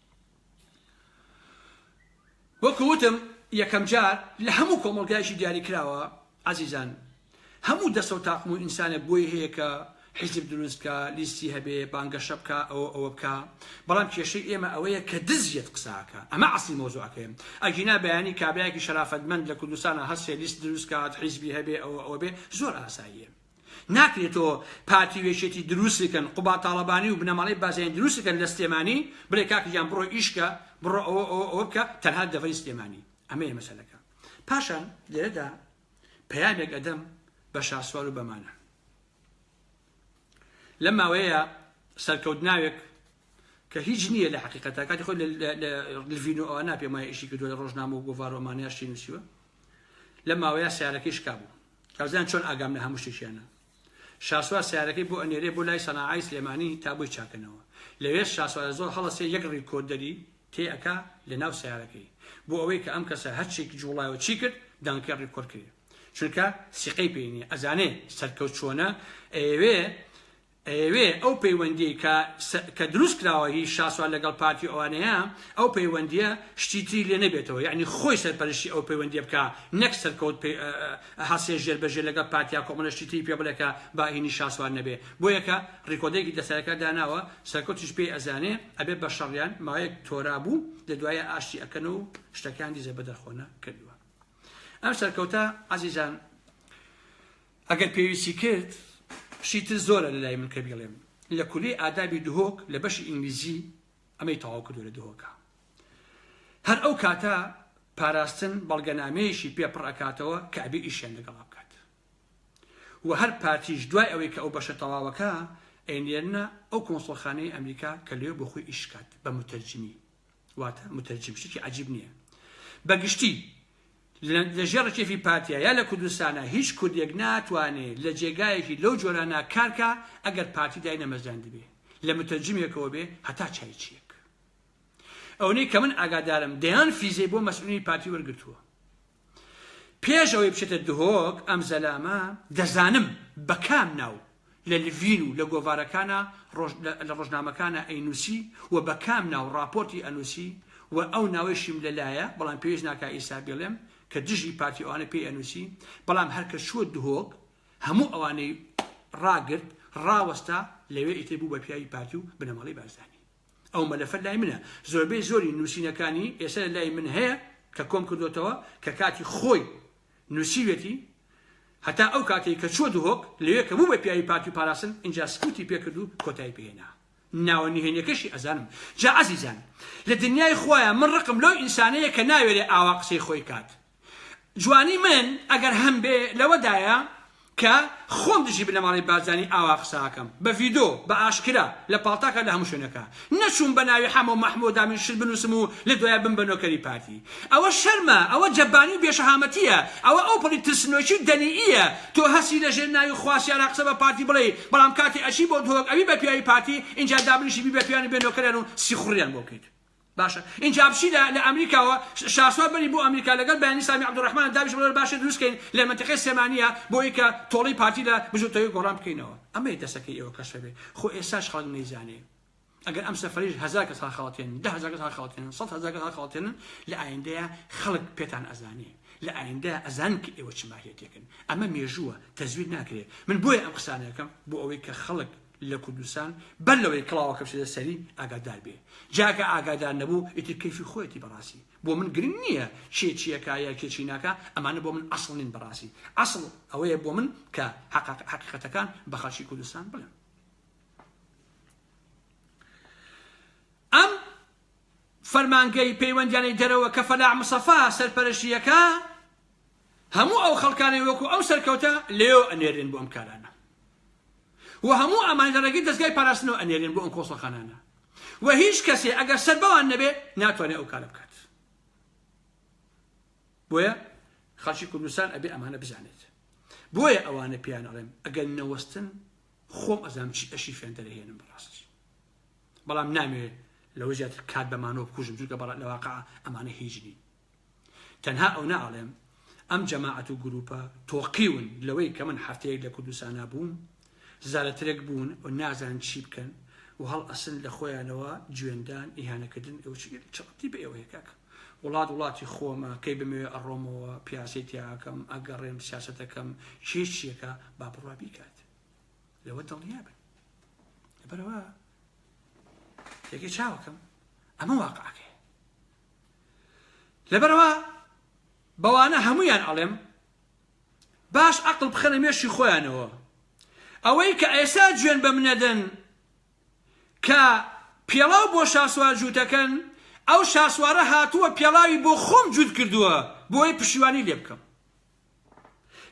وەکو وتم یەکەم جار لە هەموو کۆمەڵگایشی دیاری کراوە عزیزان هەموو دەسە و تاقم و ئینسانێک بۆی هەیە کە حیزب دروست بکە لیستی هەبێ بانگەشە بکە ئەوە ئەوە بکە بەڵام کێشەی ئێمە ئەوەیە کە دزیت قساکە ئەمە عسلی مۆزوعەکەیم ئەگینا بەیانی کابراایەکی شەرافەتمەند لە کوردستانە هەستێ لیست دروست کات حیزبی هەبێ ئەوە ئەوە بێ زۆر ئاساییە ناکرێ تۆ پارتی و یەکێتی دروست بکەن قوباد تاڵەبانی و بنەماڵەی بازیانی دروست بکەن لە سلێمانی بڵێ کاک گیان بڕۆ ئیش کە بڕۆ ئەوە ئەوە ئەوە بکە تەنها دەڤەری سلێمانی ئەمەیە مەسەلەکە پاشان لێرەدا پەیامێک ئەدەم بە شاسوار و بەمانە لەم ماوەیە سەرکەوت ناوێک کە هیچ نییە لە حقیقەتە کاتی خۆی لڤین و ئەوە ناپێمای ئیشی کردو لە ڕۆژنامە و گۆڤارۆمانیاشی نووسیوە لە ماوەیە سیارەکەی شکابوو تازیان چۆن ئاگام لە هەموو شتێکیانە. شاسوار سەیارەکەی بۆ ئەنێرێ بۆ لای سەناعای سلێمانی تا بۆی چاکەنەوە. لەوێش شاسوارە زۆر هەڵەسێ یەک ڕیکۆردەری تێ ئەکا لە ناو سەیارەکەی. بۆ ئەوەی کە ئەم کەسە هەر چیک جوڵای و چی کرد دەنگەکەی ڕیکۆرد کرێ. چونکە سیقەی پێی نیە ئەزانێ سەرکەوت چۆنە ئەیەوێ ئەیەوێ ئەو پەیوەندیەی کە کە دروست کراوە هی شاسوار لەگەڵ پارتی و ئەوانەیە ئەو پەیوەندیە شتی تری لێ نەبێتەوە یەعنی خۆی سەرپەرشتی ئەو پەیوەندیە بکا نەک سەرکەوت پێ هەسێ ژێر بە ژێر لەگەڵ پارتیا کۆمەڵە شتی تری پێ بڵێ کە با هینی شاسوار نەبێ بۆیە کە ڕیکۆدەرێکی دەسەرەکە داناوە سەرکەوتیش پێی ئەزانێ ئەبێ بە شەڕیان ماوەیەک تۆرا بوو لە دوایە ئاشتی ئەکەن و شتەکان دیزە بەدەرخۆنە کردوە ئەم سەرکەوتە عەزیزان ئەگەر پێویستی کرد شتی تر زۆرە لە لای من کە بیڵێم لە کولەی ئادابی دهۆک لە بەشی ئینگلیزی ئەمەی تەواو کردو لە دهۆکە هەر ئەو کاتە پاراستن بەڵگەنامەیەشی پێ پڕ ئەکاتەوە کە ئەبێ ئیشیان لەگەڵا بکات و هەر پارتیش دوای ئەوەی کە ئەو بەشە تەواوەکە ئەینێرنە ئەو کۆنسڵخانەی ئەمریکا کە لێ بۆ خۆی ئیشکات بە متەرجمی واتە مترجم شتێکی عجیب نییە بە گشتی لە ژێڕ کێفی پارتیا یا لە کوردستانە هیچ کوردێک ناتوانێ لە جێگایەکی لەو جۆرانە کارکە ئەگەر پارتی دای نەمەزراند بێ لە مترجمێکەوە بێ هەتا چای چیە ئەونەی کە من ئاگادارم دەیان فیزەی بۆ مەسئولی پارتی وەرگتووە پێش ئەوەی بچێتە دهۆک ئەم زەلامە دەزانم بە کام ناو لە لڤین و لە گۆڤارەکانە لە ڕۆژنامەکانە ئەینوسی و بە کام ناو ڕاپۆرتی ئەنوسی و ئەو ناوەیشیم لەلایە بەڵام پێویست ناکە ئیسا بڵێم کە دژی پارتی ئەوانە پێی ئەنوسی بەڵام هەرکە چووە دهۆک هەموو ئەوانەی ڕاگرت ڕاوەستا لەوێ ئیتر بوو بە پیاوی پارتی و بنەماڵی بارزانی ئەو مەلەفە لای منە زۆربەی زۆری نووسینەکانی ئێستا لە لای من هەیە کە کۆم کردوتەوە کە کاتی خۆی نووسیوێتی هەتا ئەو کاتێک کە چوە دهۆک لەوێ کە بوو بە پیاوی پارتی و پاراستن اینجا سکوتی پێکرد و کۆتایی پێهێنا ناوە نهێنیەکەشی ئەزانم جا عزیزان لە دنیای خوایە من ڕقم لەو ئینسانەیە کە ناوێرێ ئاوا قسەی خۆی کات جوانی من ئەگەر هەمبێ لەوەدایە کە خۆم دژی بنەماڵەی بارزانی ئاوا قسە ئەکەم بە ڤیدۆ بە ئاشکرا لە پاڵتاکا لە هەموو شوێنەکا نەچووم بە ناوی حەمەو مەحمەو دامین شت بنووسم و لە دوایە بم بە نۆکەری پارتی ئەوە شەرمە ئەوە جەبانی و بێ شەهامەتیە ئەوە ئەوپەڕی ترسنۆکی و دەنییە تۆ هەستی لە ژێر ناوی خواسیارا قسە بە پارتی بڵێی بەڵام کاتێ ئەچی بۆ دهۆک ئەبی بە پیاوی پارتی ئینجا دابنیشی بی بە پیاویان و بێ نۆکەریان و سیخوڕیان بۆ بکەیت باشە ئینجا بچی لە لە ئەمریکاوە شاسوار بەری بۆ ئەمریکا لەگەل بەیانی سامی عبدالرحمن دابیش بلۆ باشە دروست کەین لە مەنتەقەی سلێمانیە بۆی کە تۆڵەی پارتی لە بزوتەوەی گۆڕان بکەینەوە ئەمەیە دەسەکەی ئێوە کەشفە بێ خۆ ئێساش خەڵک نەیزانێ ئەگەر ئەم سەفەریش هەزار کەس هەڵخەڵەتێنن دە هەزار کەس هەڵخەڵەتێنن سەد هەزار کەس هەڵخەڵەتێنن لە ئایندەیە خەڵک پێتان ئەزانێ لە ئایندە ئەزان کە ئێوە چ ماهیەتێکن ئەمە مێژووە تەزویر ناکرێت من بۆیە ئەم قسانەکەم بۆ ئەوەی کە خەڵک لە کوردستان بەر لەوەی کڵاوەکە بچێتە سەری ئاگادار بێ جاکە ئاگادار نەبوو ئیتر کەیفی خۆیەتی بەڕاستی بۆ من گرنگ نییە کێ چیەکە یا کێ چی ناکە ئەمانە بۆ من ئەسڵ نین بەڕاستی ئەسڵ ئەوەیە بۆ من کە حقیقەتەکان بە خەڵکی کوردستان بڵێم ئەم فەرمانگەی پەیوەندیانەی دەرەوە کە فەلاح مسەفا سەرپەرشتیەکە هەموو ئەو خەڵکانەی وەکو ئەم سەرکەوتە لێیەوە ئەنێرێن بۆ ئەم کارانە و هەموو ئەمان لە ڕێگەی دەزگای پاراستنەوە ئەنێرێن بۆ ئەم کۆسەخانانە و هیچ کەسێ ئەگەر سەر بەوان نەبێ ناتوانێت ئەو کارە بکات بۆیە خەڵکی کوردستان ئەبێ ئەمانە بزانێت بۆیە ئەوانە پێیان ئەڵێم ئەگەر نەوەستن خۆم ئەزام چی ئەشی فێن دەرەهێنم بەڕاستی بەڵام نامێ لەوە زیاتر کات بەمانەوە بکوژم جوکە بەڵات لەواقع ئەمانە هیچ نین تەنها ئەونە ئەڵێم ئەم جەماعەت و گروپە تۆقیون لەوەی کە من حەفتەیەک لە کوردستانا بووم زارەترێک بوون و نازان چی بکەن و هەڵ ئەسن لە خۆیانەوە جوێندان ئیهانەکردن چڕتی بە ئێوەیە کاکە وڵات وڵاتی خۆمە کەی بمەوێ ئەڕۆمەوە پیاسی تیاکەم ئەگەڕێم سیاستەکەم چێچیەکە با بڕوا بیکات لەوە دڵنیا بن بەرەوە تێگەی چاوەکەم ئەمە واقعەکەی لەبەرئەوە بەوانە هەموویان ئەڵێم باش ئەقڵ بخەنە مێشی خۆیانەوە ئەوەی کە ئێسا جوێن بەم نەدەن کە پێڵاو بۆ شاسوار جووتەکەن ئەو شاسوارە هاتووە پێڵاوی بۆ خۆم جووت کردووە بۆی پشیوانی لێ بکەم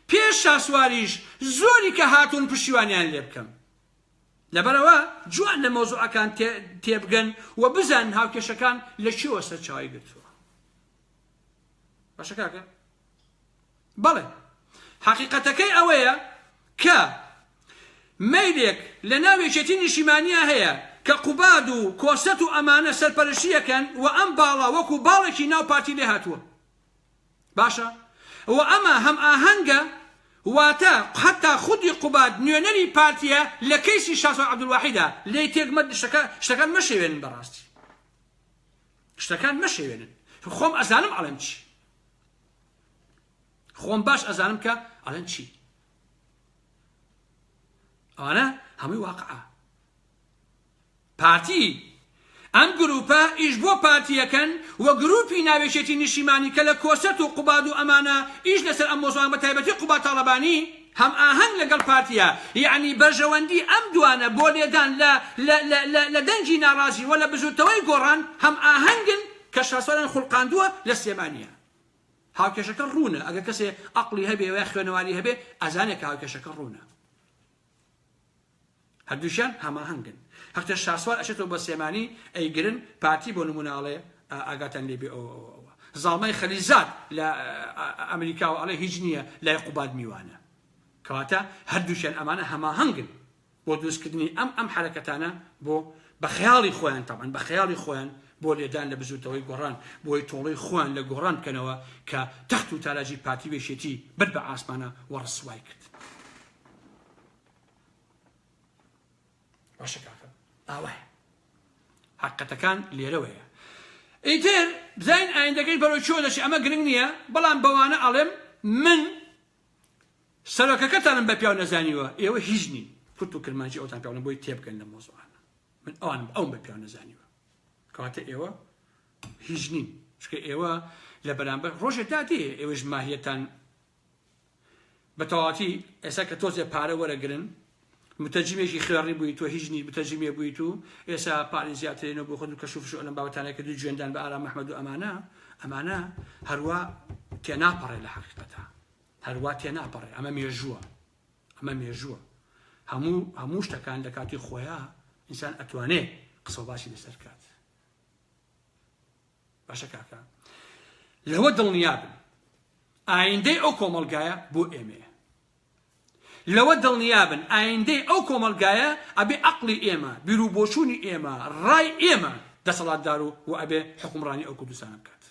پێش شاسواریش زۆری کە هاتوون پشیوانیان لێ بکەم لەبەرئەوە جوان لە مەوزوعەکان تێبگەن و بزانن هاوکێشەکان لە چیەوە سەرچاوی گرتووە باشە کاکە بەڵێ حەقیقەتەکەی ئەوەیە کە مەیلێک لە ناو یەکێتی نیشیمانیا هەیە کە قوباد و کۆسەت و ئەمانە سەرپەرشیەکەن و ئەم باڵا وەکو باڵێکی ناو پارتی لێ هاتووە باشە و ئەمە هەم ئاهەنگە واتە حتا خودی قوباد نوێنەری پارتیە لە کەیسی شاسوار عەبدولواحیدا لێی تێک مەت شتەکە شتەکان مەشێوێنن بەڕاستی شتەکان مەشێوێنن خۆم ئەزانم ئەڵێم چی خۆم باش ئەزانم کە ئەڵێن چی ئەوانە هەمووی واقعە پارتی، ئەم گروپە ئیش بۆ پارتی یەکەن و گروپی ناوێکێتی نیشیمانی کە لە کۆسرەت و قوباد و ئەمانە ئیش لەسەر ئەم مۆزوعان بە تایبەتی قوباد تاڵەبانی هەم ئاهەنگ لەگەڵ پارتیە یەعنی بەرژەوەندی ئەم دوانە بۆ لێدان لە لە لە لە لە دەنگی ناڕازی وە لە بزوتنەوەی گۆڕان هەم ئاهەنگن کە شاسوالیان خولقاندوە لە سلێمانیە هاوکێشەکە ڕوونە ئەگەر کەسێ ئەقڵی هەبێ وە خوێنەواری هەبێ ئەزانێ کە هاوکێشەکە ڕوونە. هەردووکیان هەماهەنگن هەقێ شاسوار ئەچێتەوە بۆ سلێمانی ئەیگرن پارتی بۆ نمونە ئەڵێ ئاگاتان لێ بێ ئەوە ئەوە ئەوە زاڵمای خەلیزاد لە ئەمریکاوە ئەڵێ هیچ نییە لای قوباد میوانە کەواتە هەردووکیان ئەمانە هەماهەنگن بۆ دروستکردنی ئەم ئەم حرەکەتانە بۆ بە خەیاڵی خۆیان تەبان بە خەیاڵی خۆیان بۆ لێدان لە بزوتەوەی گۆڕان بۆی تۆڵی خۆیان لە گۆڕان بکەنەوە کە تەخت و تاراجی پارتی وێشێتی برد بە ئاسمانە و ڕسوای کرد. باشە کاکە ئاوایە حقەتەکان لێرەوەیە ئیتر بزین ئایندەکەی بەرەو چۆ دەچێت ئەمە گرنگ نییە بەڵام بەوانە ئەڵێم من سەرۆکەکەتانم بە پیاو نەزانیوە ئێوە هیچ نین کورت و کرمانجی ئەوتان پیاڵم بۆی تێبگەن لە مۆزوعانە من ئەوان ئەو بە پیاو نەزانیوە کەواتە ئێوە هیچ نین چکە ئێوە لە بەرامبەر ڕۆژێ دادێ ئێوەش ماهیەتان بەتەواوەتی ئێستا کە تۆزێ پارە وەرەگرن متەجیمێکی خوێڕی بووی تۆ هیچ نی بتەجیمێ بوویت و ئێسا پارین زیاترێنەوە بۆ خۆت و کەشوفش ئەلم بابەتانە کە دوو جوێندان بە ئارام محمد و ئەمانە ئەمانە هەروە تێناپەڕێ لە حقیقەتە هەروە تێناپەڕێ ئەمە مێژووە ئەمە مێژووە هەموو هەموو شتەکان لە کاتی خۆیان ئینسان ئەتوانێ قسە باسی لەسەر کات باشە کاکە لەوە دڵنیابن ئایندەی ئەو کۆمەڵگایە بۆ ئێمەیە لەوە دڵنیابن ئایندەی ئەو کۆمەلگایە ئەبێ عقلی ئێمە بیرو بۆچوونی ئێمە ڕای ئێمە دەسەڵاتدار و و ئەبێ حکومڕانی ئەو کوردستان بکات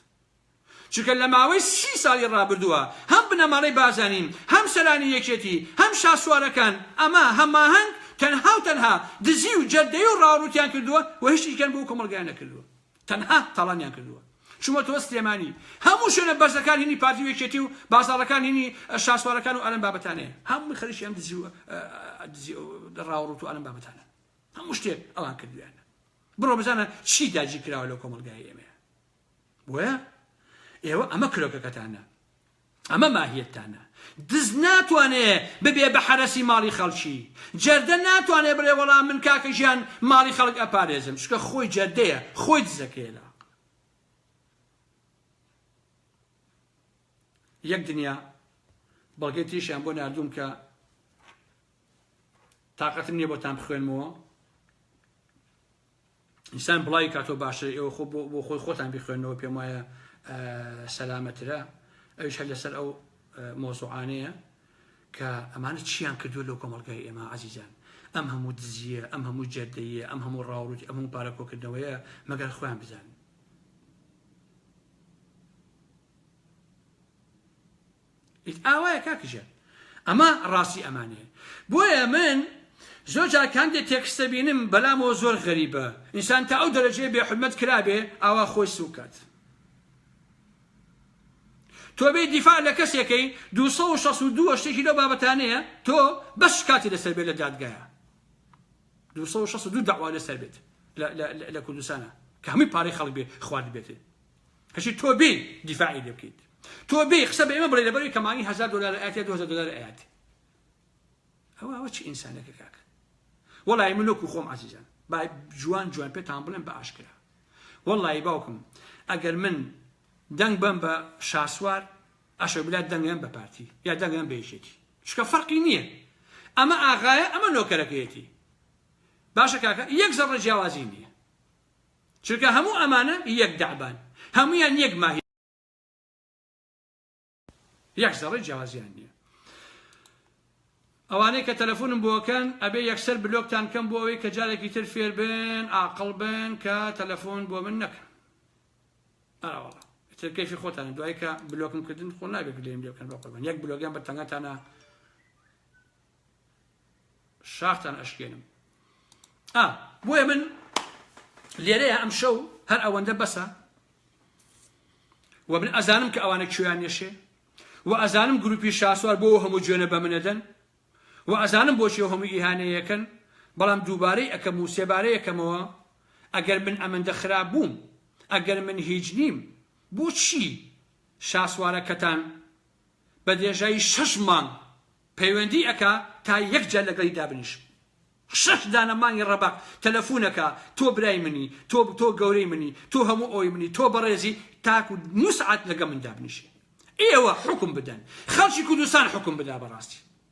چونکە لە ماوەی سی ساڵی ڕابردووە هەم بنەماڵەی بازانین هەم سەرانی یەکێتی هەم شاسوارەکان ئەمە هەماهەنگ تەنها و تەنها دزی و جەردەی و ڕاوڕوتیان کردووە و هیچیکەن بۆ کۆمەلگای نەکردووە تەنها تاڵانیان کردووە چوومەتەوە سلێمانی هەموو شوێنە بەرزەکان هینی پارتی و یەکێتی و بازاڕەکان هینی شاسوارەکان و ئەلەم بابەتانەیە هەمووی خەریکی ئەم دزی و دزی و ڕاوڕوت و ئەلەم بابەتانە هەموو شتێک ئەوان کردویانە بڕۆ بزانە چی داگیر کراوە لەو کۆمەلگای ئێمەیە بۆیە ئێوە ئەمە کرۆکەکەتانە ئەمە ماهیەتتانە. دز ناتوانێ ببێ بە حەرەسی ماڵی خەڵکی. جەردە ناتوانێ بڵێ وەڵا من کاکە ژیان ماڵی خەڵک ئەپارێزم. چونکە خۆی جەردەیە، خۆی دزەکەیە لە ئاق. یەک دنیا بەڵگەی تریشیان بۆ ناردووم کە تااقەتم نییە بۆتان بخوێنمەوە ئینسان بڵاوی کاتەوە باشتر ئێوە خۆ بۆ خۆی خۆتان بخوێنەوە پێم وایە سەلامەترە ئەوش هەر لەسەر ئەو مۆزوعانەیە کە ئەمانە چیان کردو لەو کۆمەلگای ئێمە عزیزان ئەم هەموو دزیە ئەم هەموو جەردەیە ئەم هەموو ڕاوروت ئەم هەموو پارەکۆکردنەوەیە مەگەر خۆیان بزانن ئیت ئاوایە کاک ژیار ئەمە ڕاستی ئەمانەیە بۆیە من زۆر جار کاندێ تێکست دەبینم بەلامەوە زۆر غەریبە ئینسان تا ئەو دەرەجەیە بێ حورمەت کرابێ ئاوا خۆی سووک کات تۆ بێ دیفاع لە کەسێکەی 262 شتێکی لەو بابەتانەیە تۆ بەس شکاتی لەسەر بێت لە دادگایە 262 داوا لەسەر بێت لە کوردستانە کە هەمووی پارەی خەڵک بێ خوارد بێتێ ئەچی تۆ بێ دیفاعی لێ بکەیت تۆ بێ قسە بە ئێمە بڵێ لەبەروی کەمانی هزار دلار ئاات یا 2000 دلار ئاات ئەوە ئەوە چی ئینسانەکە کاک وەڵی من لۆکو خۆم عزیزان با جوان جوان پێتان بڵێن بە ئاشکرا وەڵی باوکم ئەگەر من دەنگ بم بە شاسوار ئەشە بلا دەنگم بە پارتی یا دەنگم بێژێتی شکە فەرقی نییە ئەمە ئاغایە ئەمە نۆکەرەکەیەتی باشە کاکە یەک زەڕە جیاوازی نییە چونکە هەموو ئەمانە یەک دەعبان، هەموویان یەک ماهیەتن، یەک زەڕەی جیاوازیان نیە. ئەوانەی کە تەلەفونم بۆ ئەکەن ئەبێ یەکسەر بلۆکتان کەم بۆ ئەوەی کە جارێکی تر فێر بن ئاقڵ بن کە تەلەفون بۆ من نەکەن. ئەرا وەڵا. ئیتر کەیفی خۆتانە دوای کە بلۆکم کردن خۆ نابێ گلەییم لێ بکەن بەقوربان یەک بلۆگیان بە تەنگەتانە شاختان ئەشکێنم ئا بۆیە من لێرەیە ئەم شەو هەر ئەوەندە بەسە و من ئەزانم کە ئەوانە کوێیان نێشێ و ئەزانم گروپی شاسوار بۆ هەموو جوێنە بە منەدەن و ئەزانم بۆچی هەموو ئیهانەیەکەن بەڵام دووبارەی ئەەکەم و سێبارەیەکەمەوە ئەگەر من ئەمەندە خراپ بووم ئەگەر من هیچ نیم بۆچی شاسوارەکەتان بە درێژایی شەش مانگ پەیوەندی ئەکا تا یەک جار لەگەڵی دابنیشم شەش دانە مانگی ڕەبەق تەلەفون ئەکا تۆ برای منی تۆ تۆ گەورەی منی تۆ هەموو ئەوی منی تۆ بەڕێزی تاکو نوسعات لەگە من دابنیشێ ئێوە حوکم بدەن خەڵکی کوردستان حوکم بدا بەڕاستی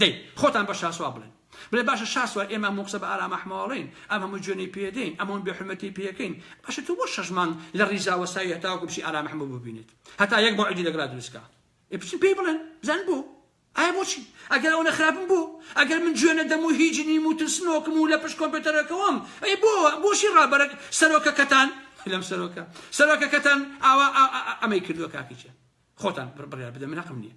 دەی خۆتان بە شاسوار بڵێن بڵێ باشە شاسوار ئێمە هەموو قسە بە ئارام ئەحمەواڵێین ئەم هەموو جوێنەی پێدەین ئەم هەموو بێحورمەتی پێکەین باشە تۆ بۆ شەش مانگ لە ڕیزا وەستاوی هەتاوەکو بچی ئارام ئەحمەو ببینێت هەتا یەک مەوعیدی لەگەڵا دروست کا ئێ بچن پێی بڵێن بزان بۆ ئایا بۆچی ئەگەر ئەوەنە خراپم بۆ ئەگەر من جوێ نەدەم و هیچ نیم و ترسنۆکم و لە پشت کۆمپیوتەرەکەوەم ئەی بۆ بۆچی ڕابەرە سەرۆکەکەتان لەم سەرۆکە سەرۆکەکەتان ئاوا ئەمەی کردووە کاکیچە خۆتان بڕیار بدە من هەقم نییە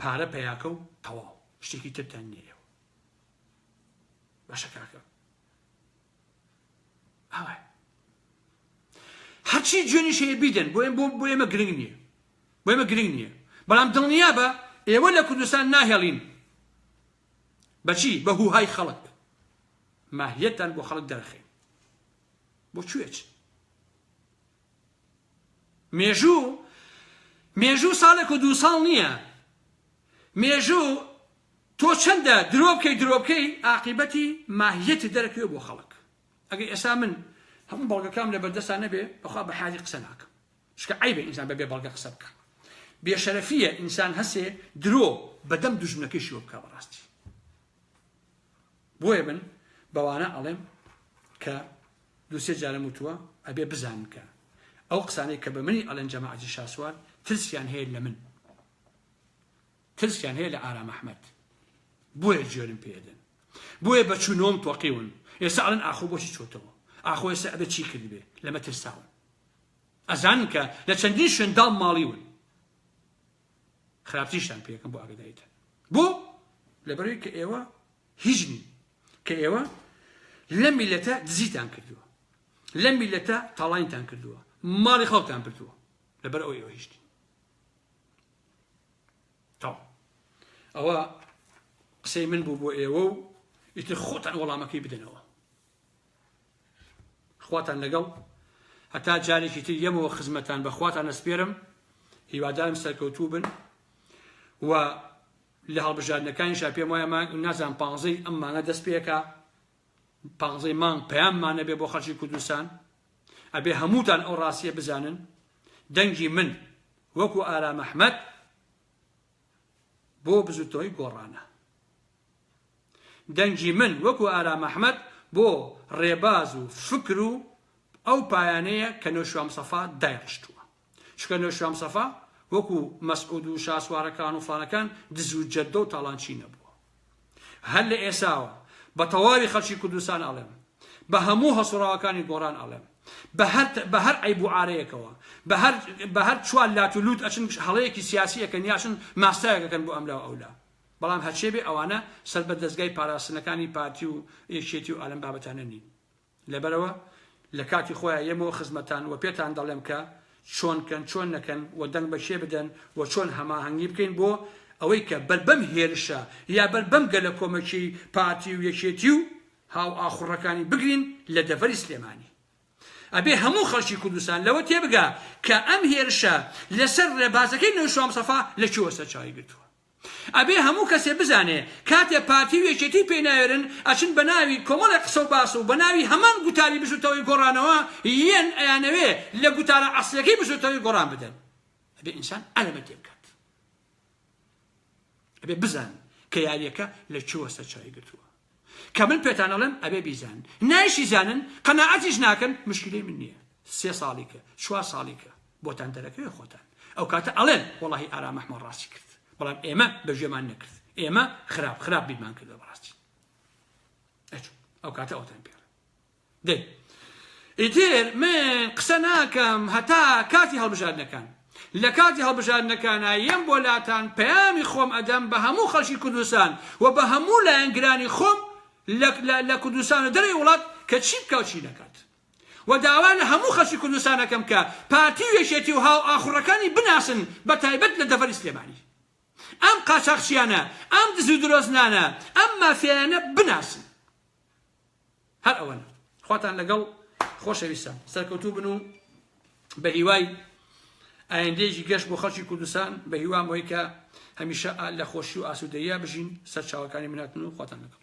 پارە پەیاکە و تەواو شتێکی ترتان نیە ئێوە باشە کاکە ئاوە هەرچی جوێنی شەیە بیدەن بۆ بۆ بۆ ئێمە گرنگ نییە بۆ ئێمە گرنگ نییە بەڵام دڵنیا بە ئێوە لە کوردستان ناهێڵین بەچی بە هوهای خەڵک ماهیەتان بۆ خەڵک دەرخین بۆ کوێچ مێژوو مێژوو ساڵێک و دوو ساڵ نییە مێژوو تۆ چەندە درۆ بکەی درۆ بکەی ئاقیبەتی ماهیەتی دەرەکەوێ بۆ خەڵک ئەگەر ئێستا من هەموو بەڵگەکەم لە بەردەستا نەبێ بەخوا بە حالی قسە ناکەم شکە عیبە ئینسان بەبێ بەڵگە قسە بکە بێشەرەفیە ئینسان هەسێ درۆ بەدەم دوژمنەکەی شوە بکە بەڕاستی بۆیە من بەوانە ئەڵێم کە دوو سێ جارم وتووە ئەبێ بزانن کە ئەو قسانەی کە بە منی ئەڵێن جەماعەتی شاسوار ترسیان هەیە لە من ترسیان هەیە لە ئارام ئەحمەد بۆیە جوێنم پێدەن بۆیە بە چوونۆم تۆقیون ئێستا ئەڵێن ئاخۆ بۆچی چۆتەوە ئاخۆ ئێستا ئەبێ چی کردبێ لەمە ترساون ئەزانن کە لە چەندین شوێن داڵ ماڵیون خراپتریشتان پێکەم بۆ ئاگداریتان بۆ لەبەروی کە ئێوە هیچ نین کە ئێوە لە میلەتە دزیتان کردووە لە میلەتە تاڵینتان کردووە ماڵی خەڵتان بردووە لەبەر ئەو ئێوە هیچ نین تاو ئەوە قسەی من بوو بۆ ئێوە و ئیتر خۆتان وەڵامەکەی بدەنەوە خواتان لەگەڵ هەتا جارێکی تر یەمەوە خزمەتان بە خواتان ئەسپێرم هیوادارم سەرکەوتوو بن و لە هەڵبژاردنەکانیشا پێم وایە مانگ نازان پانزەی ئەم مانگە دەست پێکە پانزەی مانگ پەیاممانە بێ بۆ خەڵکی کوردستان ئەبێ هەمووتان ئەو ڕاستیە بزانن دەنگی من وەکو ئارام ئەحمەد بۆ بزوتەوەی گۆڕانە دەنگی من وەکو ئارام ئەحمەد بۆ ڕێباز و فکر و ئەو پایانەیە کە نەوشیروان مستەفا دایڕشتووە. چونکە نەوشیروان مستەفا وەکو مەسعود و شاسوارەکان و فڵانەکان دز و جەردە و تاڵانچی نەبووە. هەر لە ئێساوە بە تەواوی خەڵکی کوردستان ئەڵێم، بە هەموو هەڵسوڕاوەکانی گۆڕان ئەڵێم، بە هەر بە هەر عەیب و عارەیەکەوە، بە هەر بە هەر چوار لات و لووت ئەچن هەڵەیەکی سیاسی ئەکەن یا ئەچن ماستاوێک ئەکەن بۆ ئەملا و ئەولا. بەڵام هەرچێ بێ ئەوانە سەر بە دەزگای پاراستنەکانی پارتی و یەکێتی و ئالەم بابەتانە نین لەبەرەوە لە کاتی خۆیان یەمەوە خزمەتان وە پێتان دەڵێم کە چۆن کەن چۆن نەکەن وە دەنگ بە کێ بدەن وە چۆن هەماهەنگی بکەین بۆ ئەوەی کە بەر بەم هێرشە یا بەر بەم گەلە کۆمەکی پارتی و یەکێتی و هاو ئاخوڕەکانی بگرین لە دەڤەری سلێمانی ئەبێ هەموو خەڵکی کوردستان لەوە تێبگا کە ئەم هێرشە لەسەر ڕێبازەکەی نەوشام سەفا لە کوێوە سەرچاوی گرتووە ئەبێ هەموو کەسێ بزانێ کاتێ پارتی و یەکێتی پێی ناوێرن ئەچن بەناوی کۆمەڵێ قسە و باس و بەناوی هەمان گوتاری بزوتەوەی گۆڕانەوە یێن ئەیانەوێ لە گوتارە ئەسڵیەکەی بزوتەوەی گۆڕان بدەن ئەبێ ئینسان ئەلەمە تێبکات ئەبێ بزان کە یاریەکە لە کوێوە سەرچاوی گرتووە. کە من پێتان ئەڵێم ئەبێ بیزانن نایشی زانن قەناعەتیش ناکەن مشکلەی من نییە سێ ساڵی کە چوار ساڵی کە بۆتان دەرەکەوێ خۆتان ئەو کاتە ئەڵێن وەڵی ئارام ئەحمە ڕاستی کرد بەڵام ئێمە بەژێمان نەکرد ئێمە خراپ خراپ بیرمان کردە بەڕاستی ئەو کاتە ئەوتان پێ دەی ئیتر من قسە ناکەم هەتا کاتی هەڵبژاردنەکان. لە کاتی هەڵبژاردنەکانا یەم بۆ لاتان پەیامی خۆم ئەدەم بە هەموو خەڵکی کوردستان و بە هەموو لایەنگرانی خۆم لە لە کوردستان و دەرەوەی وڵات کە چی بکا و چی نەکات. و داوا لە هەموو خەڵکی کوردستان ئەکەم کە پارتی و یەکێتی و هاوئاخوڕەکانی بناسن بە تایبەت لە دەڤەری سلێمانی. ئەم قاچاخچیانە، ئەم دز و درۆزنانە، ئەم مافیایانە بناسن. هەر ئەوەنە خواتان لەگەڵ خۆشەویستان سەرکەوتوو بن و بە هیوای ئایندێکی گەشت بۆ خەڵکی کوردستان بە هیوام ئەوی کە هەمیشە لە خۆشی و ئاسوودەیە بژین سەرچاوەکانی مناتن و خواتان لەگەڵ